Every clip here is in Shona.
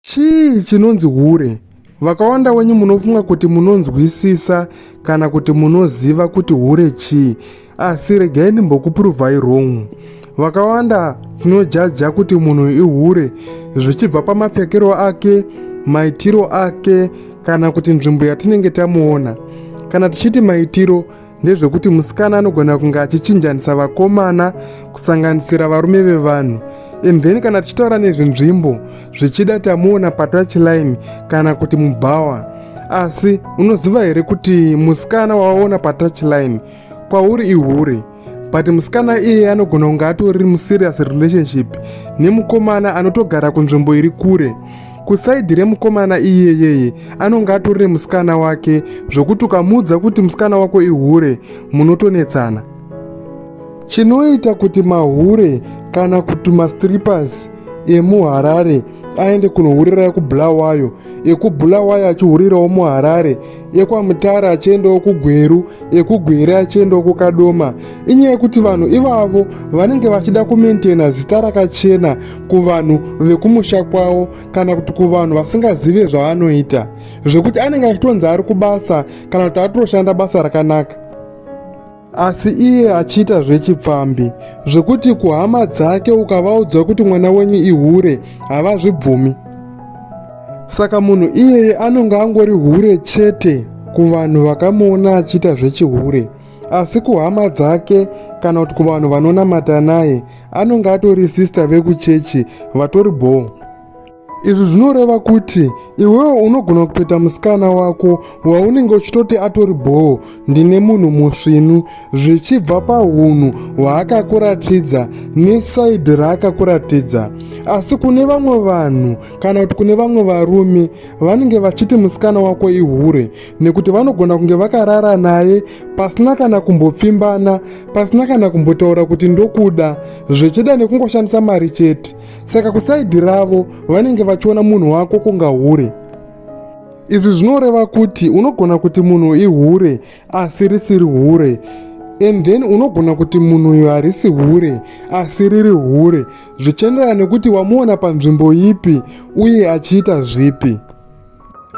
Chii chinonzi hure? Vakawanda wenyu munofunga kuti munonzwisisa kana kuti munoziva kuti hure chii, asi regai ndimbokupuruvhai wrong. Vakawanda tinojaja kuti munhu ihure zvichibva pamapfekero ake, maitiro ake kana kuti nzvimbo yatinenge tamuona. Kana tichiti maitiro, ndezvekuti musikana anogona kunge achichinjanisa vakomana kusanganisira varume vevanhu and then kana tichitaura nezvenzvimbo zvichida tamuona patouchline kana kuti mubhawa asi unoziva here kuti musikana wawaona patouchline kwauri ihure but musikana iye anogona kunge atori muserious relationship nemukomana anotogara kunzvimbo iri kure kusaidhi remukomana iyeyeye anonge atori nemusikana wake zvokuti ukamuudza kuti musikana wako ihure munotonetsana chinoita kuti mahure kana kuti mastrippers emuharare aende kunohurira ekubulawayo ekubulawayo achihurirawo muharare ekwamutara achiendawo kugweru ekugwere achiendawo kukadoma inyaya yekuti vanhu ivavo vanenge vachida kumaintaina zita rakachena kuvanhu vekumusha kwavo kana kuti kuvanhu vasingazive zvaanoita zvekuti anenge achitonzi ari kubasa kana kuti atoshanda basa rakanaka asi iye achiita zvechipfambi zvekuti kuhama dzake ukavaudza kuti mwana wenyu ihure havazvibvumi saka munhu iyeye anonge angori hure chete kuvanhu vakamuona achiita zvechihure asi kuhama dzake kana kuti kuvanhu vanonamata naye anonge atori sista vekuchechi vatori bhoo izvi zvinoreva kuti iwewo unogona kupeta musikana wako waunenge uchitoti atori bhoo ndine munhu musvinu zvichibva paunhu hwaakakuratidza nesaidhi raakakuratidza asi kune vamwe vanhu kana kuti kune vamwe varume vanenge vachiti musikana wako ihure nekuti vanogona kunge vakarara naye pasina kana kumbopfimbana pasina kana kumbotaura kuti ndokuda zvechida nekungoshandisa mari chete saka kusaidhi ravo vanenge vachiona munhu wako kunga hure izvi zvinoreva kuti unogona kuti munhu ihure asi risiri hure and then unogona kuti munhu uyo harisi hure asi riri hure zvichienderana nekuti wamuona panzvimbo ipi uye achiita zvipi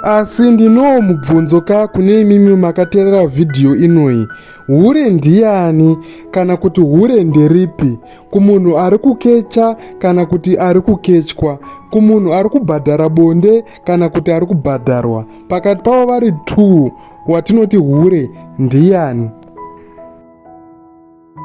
asi ndinowo mubvunzo ka kune imimi makaterera vhidhiyo inoyi hure ndiyani kana kuti hure nderipi kumunhu ari kukecha kana kuti ari kukechwa kumunhu ari kubhadhara bonde kana kuti ari kubhadharwa pakati pavo vari two watinoti hure ndiyani